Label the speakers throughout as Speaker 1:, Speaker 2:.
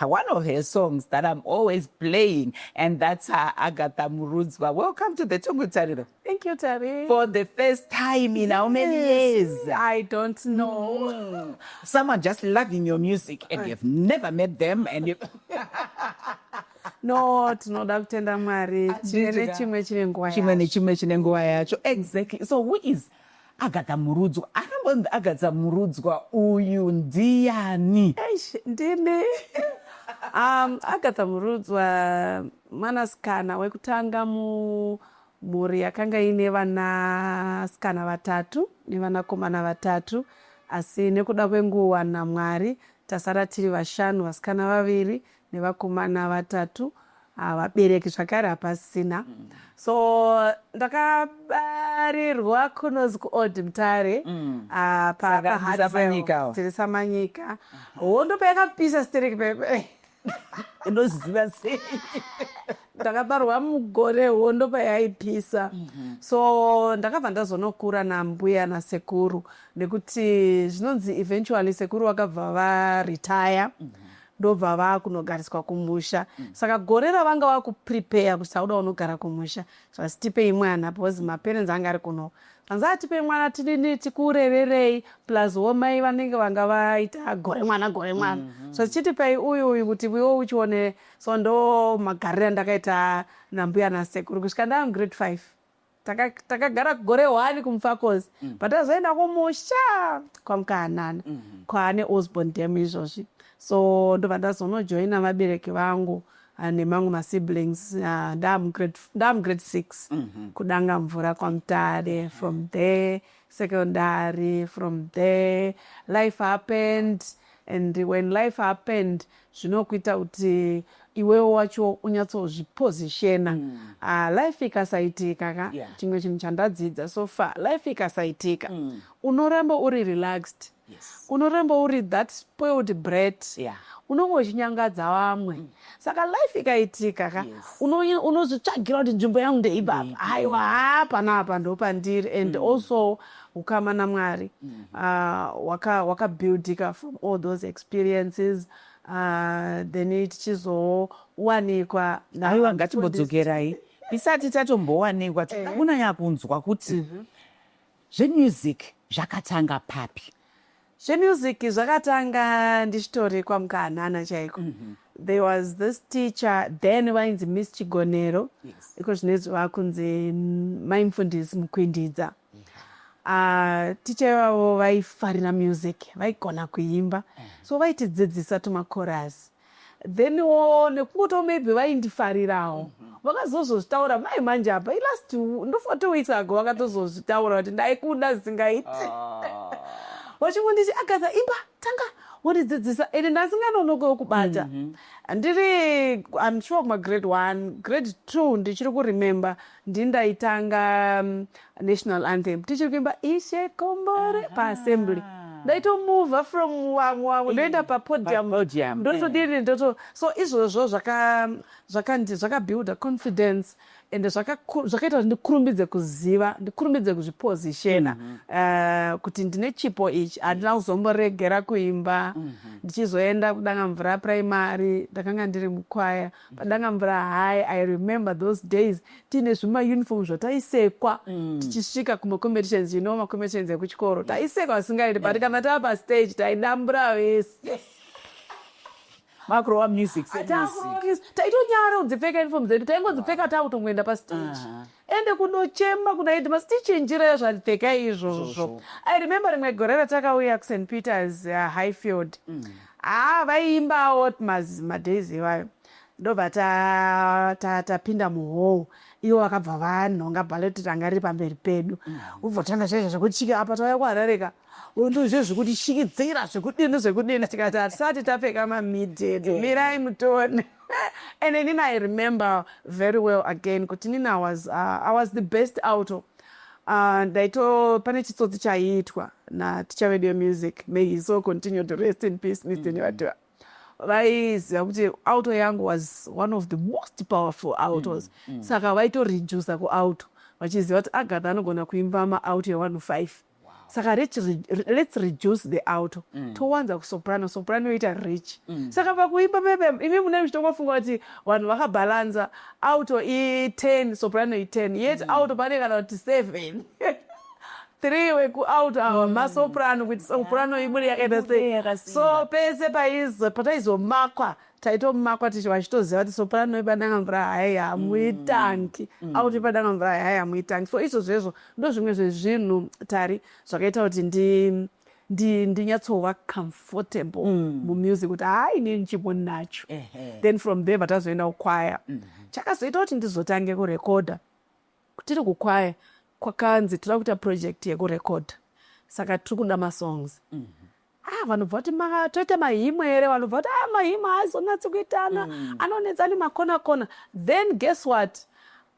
Speaker 1: one of her songs that I'm always playing, and that's her Agatha Murudzwa. Welcome to the Tongo Tariro. Thank you, Tari. For the first time in yes, how many years? I don't know. Mm. Some are just loving your music, and you've never met them, and you. no tinoda kutenda mwari chimwe nechimwe chine nguva chimwe nechimwe chine nguva yacho exactly so who is Agadza murudzwa arambonzi agadza murudzwa uyu ndiyani? Eish, ndini um, agatha murudzwa mwanasikana wekutanga mumhuri yakanga iine vanasikana vatatu nevanakomana vatatu asi nekuda kwenguva namwari tasara tiri vashanu vasikana vaviri nevakomana vatatu ah, vabereki zvakare hapasina mm. so ndakabarirwa kunozi kuold mutare mm. ah, tiri samanyika hondo payakapisa stereki pepe unoziva sei ndakabarwa mugore hondo payaipisa mhm. so ndakabva ndazonokura nambuya nasekuru nekuti zvinonzi eventually sekuru vakabva varetire mhm. ndobva vakunogariswa kumusha mm. saka gore ravanga vakuprepayer kuti tauda unogara kumusha zvanzi tipei mwana because maparents anga ari kuno anzi atipei mwana tinini tikuurererei plus wo mai vanenge vanga vaita gore mwana gore mwana mm -hmm. so tichitipei uyu uyu kuti viwo uchione so ndo magariro andakaita nambuya nasekuru kusvika ndaam grade five takagara gore one kumufacos mm. but azoenda kumusha kwamukahanana mm -hmm. kwaane osborn dam izvozvi so ndobva ndazonojoina vabereki vangu ah, nemamwe masiblings ah, ndaamugrade six mm -hmm. kudanga mvura kwamutare from there mm -hmm. secondary from there life happened and when life happened zvinokuita kuti iwewo wacho unyatsozvipositiona mm. uh, life ikasaitika ka chimwe yeah. chinhu chandadzidza so far life ikasaitika mm. unoramba uri relaxed yes. unoramba uri that spoiled bread yeah. unonge uchinyangadza vamwe mm. saka life ikaitika ka yes. unozvitsvagira kuti nzvimbo yangu ndeibaba haiwa haa panapa ndopandiri and mm. also ukama namwari mm. uh, wakabuildika waka from all those experiences uh, then tichizowanikwa aiwa ngatimbodzokerai tisati tatombowanikwa eh. tikakunanya kunzwa kuti mm -hmm. Zvemusic zvakatanga papi? Zvemusic zvakatanga ndichitori kwaMukahanana chaiko. Mm -hmm. There was this teacher then vainzi Miss Chigonero. Yes. Iko zvinezvi vakunzi Mai Mfundisi Mukwindidza. Uh, ticha ivavo vaifarira music vaigona kuimba mm. so vaitidzidzisa tumakorasi then wo nekungoto maybe vaindifarirawo vakazozozvitaura mai manje apa ilast ndofoto weeks ago vakatozozvitaura kuti ndaikuda zvisingaiti ah. vachingonditi agatha imba tanga wondidzidzisa and ndasinganonokewo kubata mhm. ndiri im sure kumagrade one grade two ndichiri kuremember ndini ndaitanga mm, national anthem tichiri kuimba ishe kombore paassembly ndaitomova from wamwe wamwe ndoenda papodium Podium, ndotodini eh. ndoto so izvozvo zvaka- zvakandi- zvakabuilda confidence and zvakaku- zvakaita kuti ndikurumbidze kuziva ndikurumbidze kuzvipozishena eh, kuti ndine chipo ichi handina kuzomboregera kuimba ndichizoenda kudanga mvura primary ndakanga ndiri mukwaya Padangamvura high I remember those days tiine zvima uniform zvataisekwa mm. tichisvika kuma competitions you know ma competitions ekuchikoro taisekwa zvisingaiti but kana tava pa stage taidambura vese makurova music taitonyara kudzipfeka uniform dzedu taingodzipfeka takutongoenda pa stage uh -huh. ende kunochema kuna headmas tichinjira zvapfeka izvozvo i remember rimwe gore ratakauya kust peters uh, highfield mm. haa ah, vaiimbawo madays ivayo ndobva tapinda ta, ta muhou ivo vakabva vanhonga bhaloti ranga riri pamberi pedu mm. ubvotanga chaizvo zvekuti chike apa tauya kuharareka ndozve zvekutishikidzira zvekudini zvekudini tikati hatisati tapfeka mamided eh. mirai mutone and then i remember very well again kuti nina was, uh, i was the best auto uh, ndaito pane chitsotsi chaiitwa natichavedio music may he so continue to rest in peace mrnevatiwa mm. vaiziva kuti auto yangu was one of the most powerful autos mm, mm. saka vaitoredusa kuauto vachiziva kuti agatha anogona kuimba maauto e1 5 wow. saka rich, let's reduce the auto mm. towanza kusoprano soprano yoita rich mm. saka pakuimba pepe imi mune muchitongofunga kuti vanhu vakabhalanza auto i10 soprano i10 yet mm. auto pane kana kuti 7 three wekuout awa mm. masoprano kuti soprano ibude yakaita sei so pese paizomakwa so, taitomakwa tichiva tichitoziva kuti soprano ipadanga mvura hayi hamuitanki mm. mm. auti ipadanga mvura hayi hamuitanki so izvo zvezvo ndo zvimwe zvezvinhu tari zvakaita kuti ndi ndinyatsova comfortable mm. mumusic kuti hayi ne ndichipo nacho then from there vatazoenda kukwaya mm -hmm. chakazoita kuti ndizotange kurekodha tiri kukwaya kwakanzi tira kuita project yekurekodha saka tiri kuda masongs mm -hmm. ah vanobva kuti toita mahimwe here vanobva kuti ah mahimwe haazonatsi kuitana mm. anonetsa ane makona kona then guess what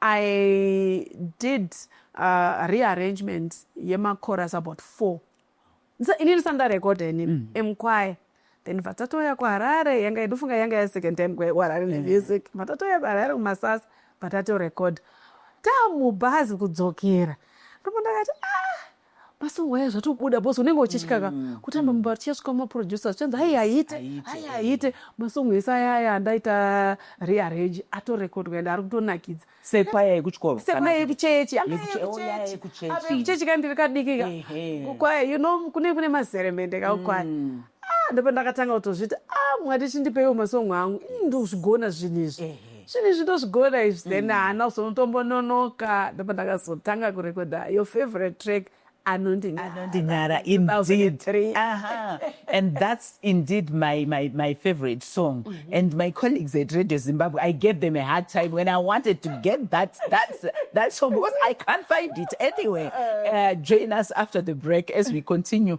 Speaker 1: i did uh, rearrangement yemacoras about four ini ndisandarekodha ini mm. emkwaya then vatatouya kuharare yanga yedufunga yanga ya second time kuharare nemusic mm. vatatouya kuharare kumasasa vatatorekodha tamubhazi kudzokera ndipo ndakati ah masongwa aya zvatobuda bos unenge uchityaka mm, kutamba mm. mumba tichasvika mumaproducer zvichanzi hai haite hai haite masongo ese aya aya andaita rearrange atorekodwa ende ari kutonakidza sepaya yekuchikoro sepaya yekuchechi yekuchechi kandiri kadiki ka kwaya you know kune kune mazeremende ka kwaya mm. ah ndopandakatanga kutozviti ah mwari chindipeiwo masong angu ini ndozvigona zvinhu izvi zvinhu izvi ndozvigona izvi then mm. haana kuzonotombononoka ndopandakazotanga kurekodha your favorite track anondinyara indeed Aha. and that's indeed my, my, my favorite song mm -hmm. and my colleagues at radio zimbabwe i gave them a hard time when i wanted to get that, that, that song because i can't find it anyway uh, uh, join us after the break as we continue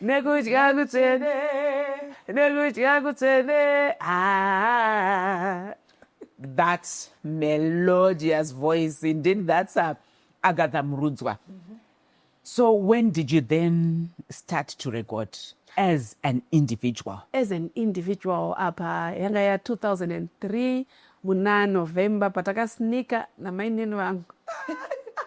Speaker 1: nekudya kutsvene nekudya kutsvene ah. that melodious voice indeed that's a agatha murudzwa mm -hmm. so when did you then start to record as an individual as an individual apa yanga ya 2003 Muna November patakasnika namainini vangu.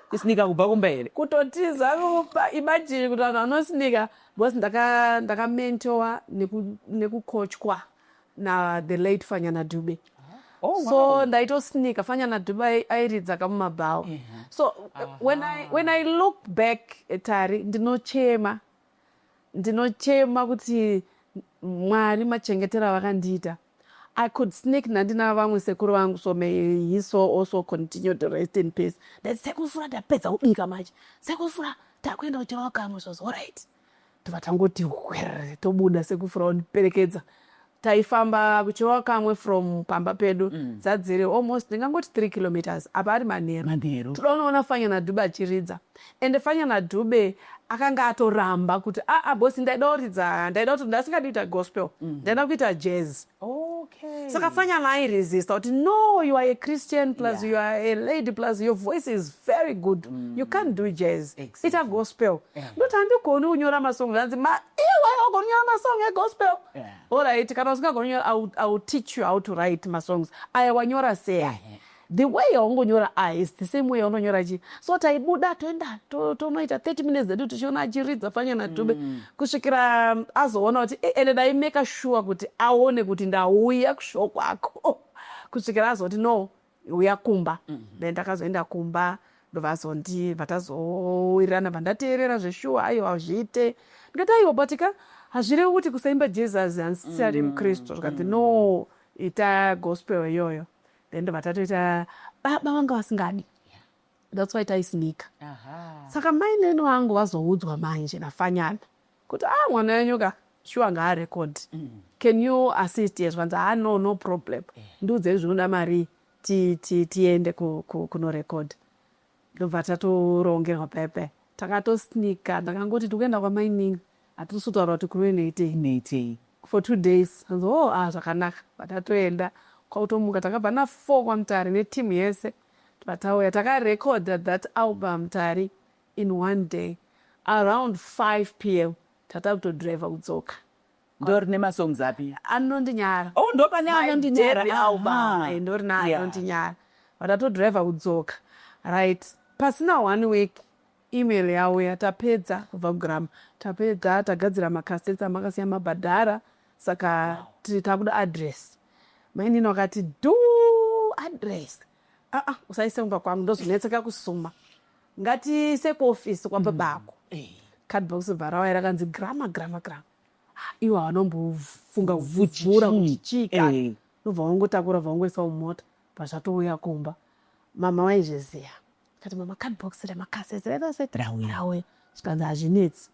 Speaker 1: Kusnika kubva kumba here? Kutotiza kumba. Imagine kuti vanhu vanosnika because ndaka ndakamentowa neku nekukochwa na the late Fanyana Dube. Oh, so wow. ndaitosnika fanyana dube ai- airidza kamumabhawa so when I, when i look back at tari ndinochema ndinochema kuti mwari machengetera vakandiita i could sneak nandina vamwe sekuru vangu so may he so also continue to rest in peace that sekufura ndapedza kubika manje sekufura takuenda kuchirao kamwe zvozorit tobva tangoti hwere tobuda sekufura ondiperekedza taifamba kuchiwa kamwe from pamba pedu mm. dzadziri almost ndingangoti three kilometers apa ari manheru manheru todonoona fanyana dhube achiridza ende fanyana dhube akanga atoramba kuti aa ah, ah, bosi ndaida kuridza ndaida kuti ndasingadi kuita gospel mm. ndaida kuita jazz okay. saka fanyana airesista kuti no you are a christian plus yeah. you are a lady plus your voice is very good mm. you can't do jazz exactly. ita gospel yeah. ndoti handigoni kunyora masong anzi ma iwe ogoni kunyora masong egospel Yeah. Alright, kana usingagona kunyora I will, I will teach you how to write masongs. Aya wanyora sei? Yeah. The way yaungonyora aya is the same way yaunonyora chi. So taibuda toenda tonoita to 30 minutes zedu tichiona achiridza fanya na Dube mm. kusvikira um, azoona kuti eh, ende dai make sure kuti aone kuti ndauya kushoko kwako. Kusvikira azoti no uya kumba mm -hmm. then takazoenda kumba ndovazondi vatazowirirana vandateerera zveshuwa aiwa hazviite ndikati aiwa but ka hazvirevi kuti kusaimba jesus hansisari mm. mukristu zvikanzi no ita gospel iyoyo then ndovatatoita baba vanga vasingadi that's why taisinika saka mainini vangu vazoudzwa manje nafanyana kuti a ah, mwana wenyu ka shuwa ngaarekodhi mm. can you assist ye zvanzi haa no no problem eh. ndiudzei zvinoda marii tiende kunorekodha ndobva tatorongerwa pepe takatosnika ndakangoti tikuenda kwamainini hatisi kutaura kuti kuve neitei for two days anzi o oh, a ah, zvakanaka vatatoenda kwautomuka takabva nafour kwamutari netimu yese vatauya takarekodha that album tari in one day around 5 pm tata kutodriver kudzoka ndorine masongs api anondinyara oh ndopane anondinyara ah. eh, ndorine anondinyara but atodriver kudzoka right pasina one week email yauya tapedza kubva kugrama tapedza tagadzira macastets amakasiya mabhadhara saka tiri takuda address mainini wakati du address aa ah, ah, usaise kumba kwangu ndozonetseka kusuma ngatiise kuofisi kwababako mm. eh. cardbox bharawa rakanzi grama grama grama ah, ivo havanombofunga kuvhura kuti chii ka eh. nobva vangotakura bva vangoisa mumota pazvatouya kumba mama waizviziva kati mama cardbox remakasezereraseti rauya zvikanzi hazvinetsi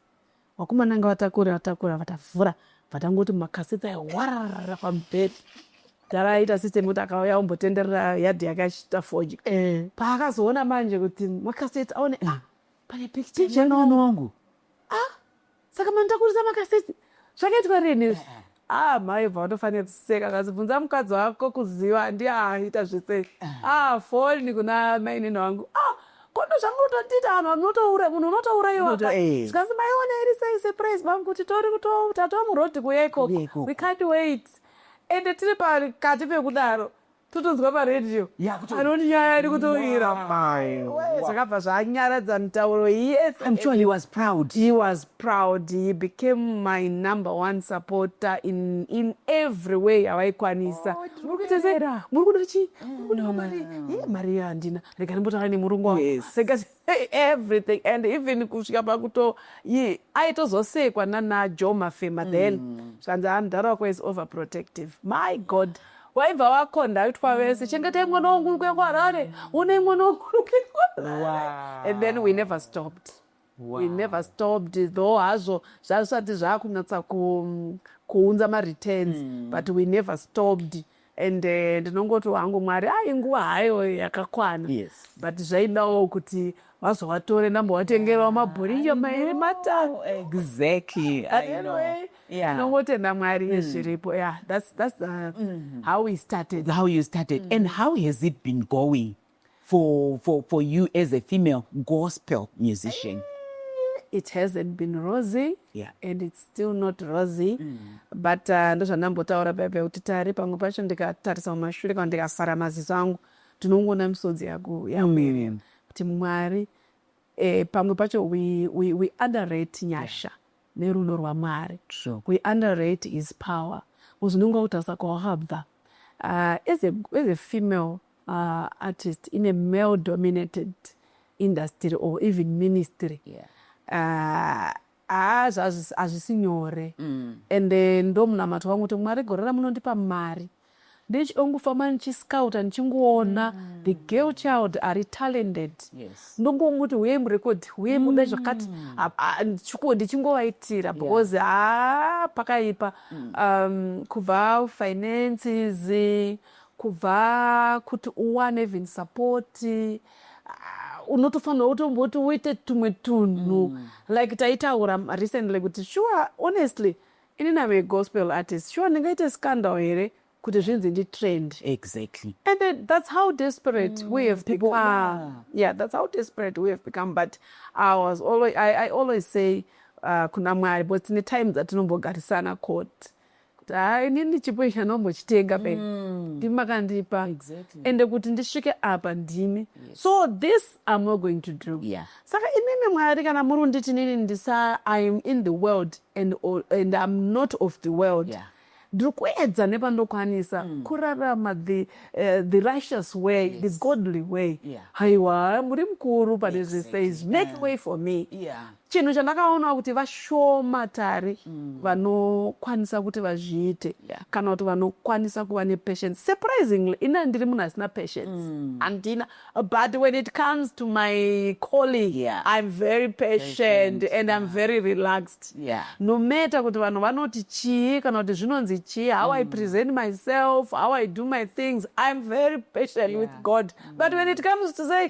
Speaker 1: Vakomana anga vatakura vatakura vatavhura vatangoti makasita warara pamubhedha dara aita system kuti akauya ombotenderera yadhi yake achiita fodya eh. paakazoona manje kuti makaseti aone ah, pane picture wangu ah, saka mani takurisa makaseti zvakaitwa rini izvi eh. Ah mai Eva watofanira kuseka kasi bvunza mukadzi wako kuziva ndiye aita zvese. Ah foni kuna mainini wangu. Ah kondo zvangu utotiita vanhu vanotoura munhu unotouraiwa. Unoto- eh. Zvikanzi maiona iri sei surprise mom kuti tori kuto tatova muroad kuya Kuya ikoko. ikoko. We can't wait. Ende tiri pakati pekudaro. totonzwa paredio anoti nyaya iri kutoira zvakabva zvanyaradza mitauro yeswas proud he became my number one supporter in, in every way avaikwanisa oh, muri kuda chii mari handina rega ndimbotaura nemurungu wangu everything and even kusvika pakuto yi aitozosekwa nana jo mafema then mm. zvikanzi mm. mdhara wako is over protective my god waibva wakonda aitwa vese chengetai mwana wangu uri kuenda kuharare unei mwana wangu uri kuenda and then we never stopped wow. we never stopped though hazvo zvazvisati zvakunyatsa kuunza mareturns mm. but we never stopped wow. and eh, ndinongoti hangu mwari ai nguva hayo yakakwana yes. but zvaidawo kuti vazovatore namba vatengerwa mabhoriyo mairi matano exactly tinongotenda mwari mm. zviripo yeah that's, that's the, mm. how we started how you started mm. and how has it been going for, for, for you as a female gospel musician? Eh, it hasn't been rosy yeah. and it's still not rosy mm. but uh, ndozvandambotaura bebe kuti tari pamwe pacho ndikatarisa mumashure kana ndikafara maziso angu tinongoona misodzi yako yamwiri mm. kuti mwari eh, pamwe pacho we, we, we underrate nyasha yeah. nerudo rwamwari sure. we underrate his power uzvinonga kutarisa kwawakabva uh, as, a, as a female uh, artist in a male dominated industry or even ministry yeah. uh, haa hazvisi nyore mm. and eh, ndomunamato wangu kuti mwari gore ramunondipa mari ndichongofamba ndichiscouta ndichingoona mm. the girl child ari talented yes. ndongomuti huye murekodi huye muda mm. zvakati mm. ndichingovaitira because haa yeah. pakaipa mm. um, kubva finances kubva kuti uwane even support uh, unotofanira utomboti uite tumwe tunhu mm. like taitaura recently kuti sure honestly ini name gospel artist sure ndingaite scandal here kuti zvinzi ndi trend exactly and then that's how desperate mm, we have people, become yeah. yeah that's how desperate we have become but i was always i, I always say uh, kuna mwari but tine time dzatinombogarisana court kuti haa inini chipo ichi anombochitenga pe mm. ndimi makandipa exactly. ende kuti ndisvike apa ndimi yes. so this am not going to do yeah. saka imimi mwari kana muri kunditi nini ndisa i am in the world and, and im not of the world yeah ndiri kuedza nepandokwanisa mm. kurarama the, uh, the righteous way yes. the godly way haiwa yeah. muri mukuru pane zvese izvi make yeah. way for me yeah. chinhu chandakaonawo kuti vashoma tari mm. vanokwanisa kuti vazviite yeah. kana kuti vanokwanisa kuva nepatience surprisingly ina ndiri munhu asina patience mm. handina mm. but when it comes to my calling yeah. i'm very patient, patient. and yeah. i'm very relaxed yeah. no matter kuti vanhu vanoti chii kana kuti zvinonzi chii how mm. i present myself how i do my things i'm very patient yeah. with god mm. but when it comes to say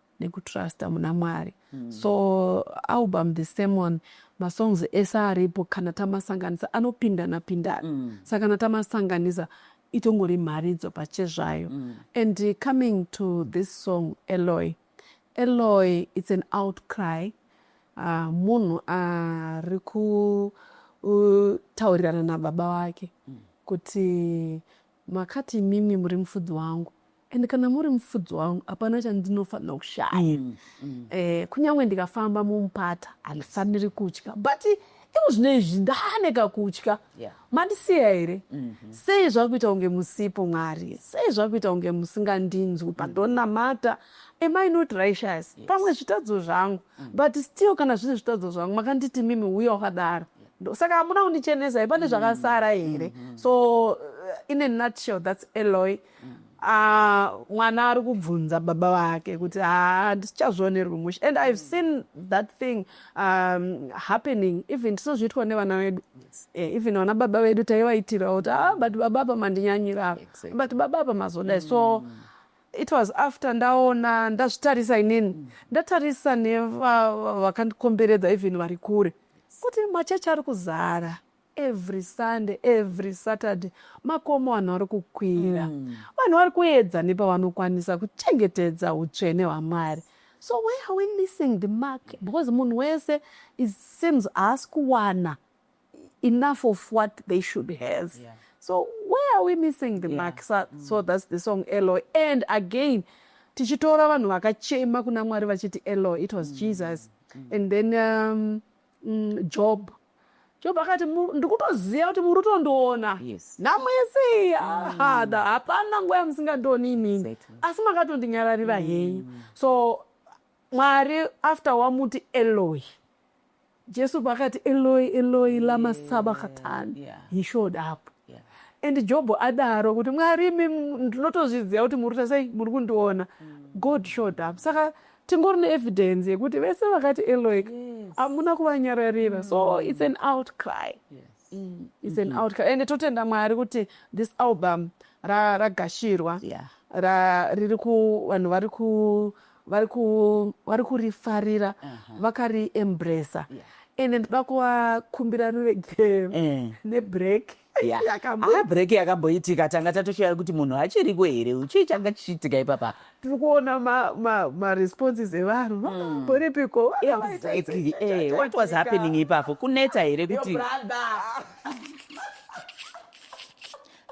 Speaker 1: nekutrusta muna mwari mm. so album the same one masongs ese aripo kana tamasanganisa anopindana pindana mm. saka kana tamasanganisa itongori mharidzo pachezvayo mm. and coming to this song eloy eloy it's an outcry uh, munhu ari uh, kutaurirana uh, nababa wake mm. kuti Makati imimi muri mufudzi wangu and kana muri mufudzi wangu hapana chandinofanira kushaya mm, mm. Eh, kunyange ndikafamba mumupata handifaniri kutya but iko zvino izvi ndane kakutya yeah. mandisiya here mm -hmm. sei zvakuita kunge musipo mwari sei zvakuita kunge musingandinzwi pandonamata mm -hmm am i not righteous yes. pamwe zvitadzo zvangu mm. but still kana zvine zvitadzo zvangu makanditi mimi uya wakadaro saka hamuna kundichenesa here pane mm. zvakasara here mm-hmm. so uh, in a nutshell thats eloy mm. ah, mwana ari kubvunza baba vake kuti handichazvionerwi ah, mushe and ihave mm. seen that thing um, happening even tinozviitwa nevana vedu eh, even vana baba vedu taivaitirawo kuti ah, but baba apa mandinyanyira but baba apa mazodai so it was after ndaona ndazvitarisa inini mm. ndatarisa nevavakandikomberedza va, even vari kure kuti machechi ari kuzara every sunday every saturday makomo vanhu vari kukwira mm. vanhu vari kuedza nepavanokwanisa kuchengetedza utsvene hwamwari so where are we missing the mark because munhu wese seems haasi kuwana enough of what they should have yeah. so where are we missing the yeah. mark so, mm. so that's the song eloy and again tichitora vanhu vakachema kuna mwari vachiti eloy it was mm. jesus mm. and then um, mm, job job akati ndikutoziva kuti muri kutondiona yes. namwese mm. hapana nguva yamusingandioni inini exactly. asi makatondinyararira mm. henyu so mwari after wamuti eloy Jesu paakati Eloi Eloi lama sabakatani yeah. he showed up yeah. and Job adaro kuti Mwari imi ndinotozviziva kuti muri kuita sei muri kundiona mm. God showed up saka tingori neevidence yekuti vese vakati Eloi yes. amuna kuvanyararira mm. so it's an outcry yes. mm. is an mm-hmm. outcome ende totenda mwari kuti this album ragashirwa ra riri ku vanhu vari ku vari ku vari kurifarira uh-huh. vakari embracer ende ndoda kuvakumbira ruregero eh. nebreak break yakamboitika tanga tatoshaya kuti munhu hachiriko here chii changa chichiitika ipapa tiri kuona maresponses evanhu vakamboripiko hmm. what was happening ipapo kunetsa here kuti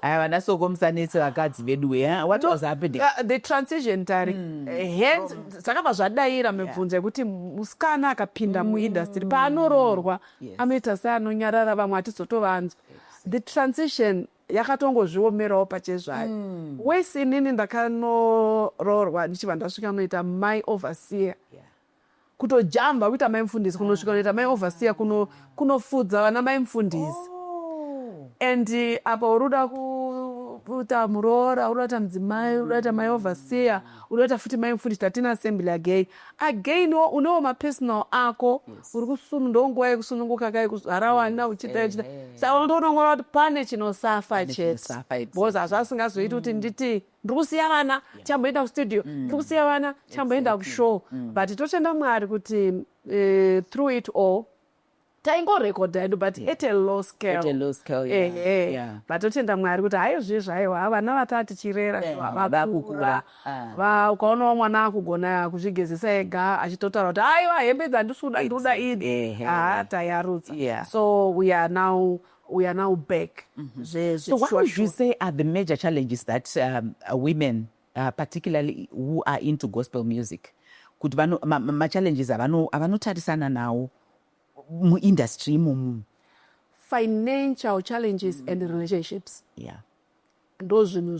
Speaker 1: aya vana soko musanetse vakadzi vedu we eh? what was happening uh, the transition tari mm. hence zvakabva zvadaira mibvunzo yekuti musikana akapinda muindustry hmm. paanoroorwa anoita seanonyarara vamwe hatizotovanzwa the transition yakatongozviomerawo pachezvayo mm. wesi inini ndakanoroorwa ndichibva ndasvika noita mai overseer yeah kutojamba kuita mai mufundisi kunosvika kunoita mai overseer kunofudza vana mai mufundisi oh. and eh, apa uri uda kuita muroora uri udaita mudzimai uri udaita mai overseer uri udaita futi mai mufundisi tatina assembly again again wo unewo mapersonal ako uri kusunu ndonguva yekusununguka kai kuzvarawana uchiita uchita saka unotonongora kuti pane chinosafa chete because hazvo asingazoiti kuti mm. nditi ndiri kusiya vana chamboenda kustudio mm. ndiri kusiya vana chamboenda kushow mm. but totenda mwari kuti eh, through it all taingorekodha edu but at a low scaleehe vatotenda mwari kuti hayo zviye zvayo ha vana vataa tichirera vakukura ah. ukaonawo mwana akugona kuzvigezesa ega achitotaura kuti aiwa hembe dzandisuda nduda idi ha tayarutsa so we are now we are now back mm-hmm. so what would you say are the major challenges that um, women uh, particularly who are into gospel music kuti machallenges ma, ma avanotarisana nawo muindustry imomu financial challenges mm. and relationships yeah ndo zvinhu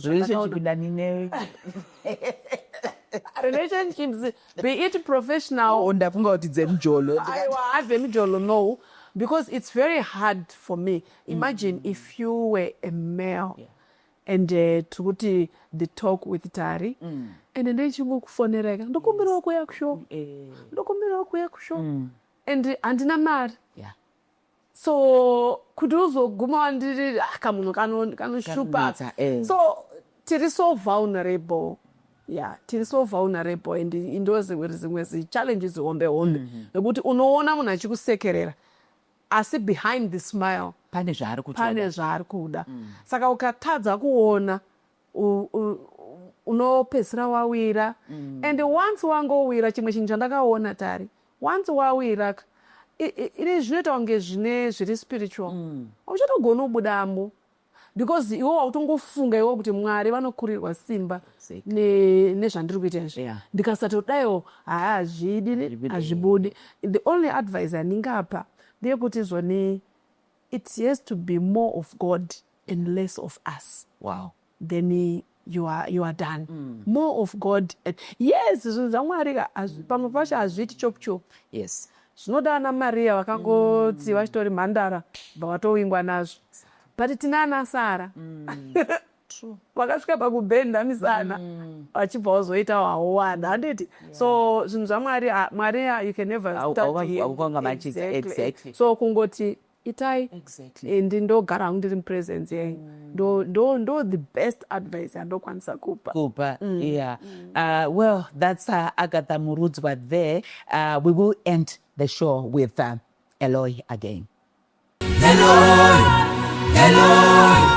Speaker 1: relationships be it professional oh, ndafunga kuti dzemjolo dzemjolo no because it's very hard for me imagine mm. if you were a male yeah. and uh, eh, tiri kuti the talk with tari mm. and ndichingokufonereka ndokumbirawo kuya kushow eh. ndokumbirawo kuya kushow mm. and handina mari yeah. so kuti uzoguma wandiri ah, kamunhu kanoshupa kano eh. so tiri so vulnerable ya tiri so vulnerable and indozimwe zimwe zichallenges hombe hombe nekuti mm -hmm. unoona munhu achikusekerera asi behind the smile pane zvaari kutoda pane zvaari kuda mm. saka ukatadza kuona unopedzisira wawira mm. and once wangowira chimwe chinhu chandakaona tari once wawira ini zvinoita kunge zvine zviri spiritual mm. uchatogona kubudamo because iwe wautongofunga iwe kuti mwari vanokurirwa simba nezvandiri kuita izvi yeah. ndikasatodaiwo haazvidi hazvibudi the only advice andingapa ndeyekuti zvoni it has to be more of god and less of us wow. then you are, you are done mm. more of god yes zvinhu zvamwari ka pamwe pacho hazviiti chop chop yes zvinoda ana mariya vakangoti mm. vachitori mhandara bva vatowingwa nazvo but tina ana sara mm. vakasvika pakubhenda misana mm. vachibva mm. wazoita wahowana handiti yeah. so zvinhu zvamwari mwari you can never start exactly. so kungoti itai exactly. and ndogara hangu ndiri mupresence yenyu mm. ndo ndo ndo the best advice yandokwanisa kupa kupa mm. yeah mm. uh, well that's uh, agatha murudzwa there uh, we will end the show with uh, eloy again eloy eloy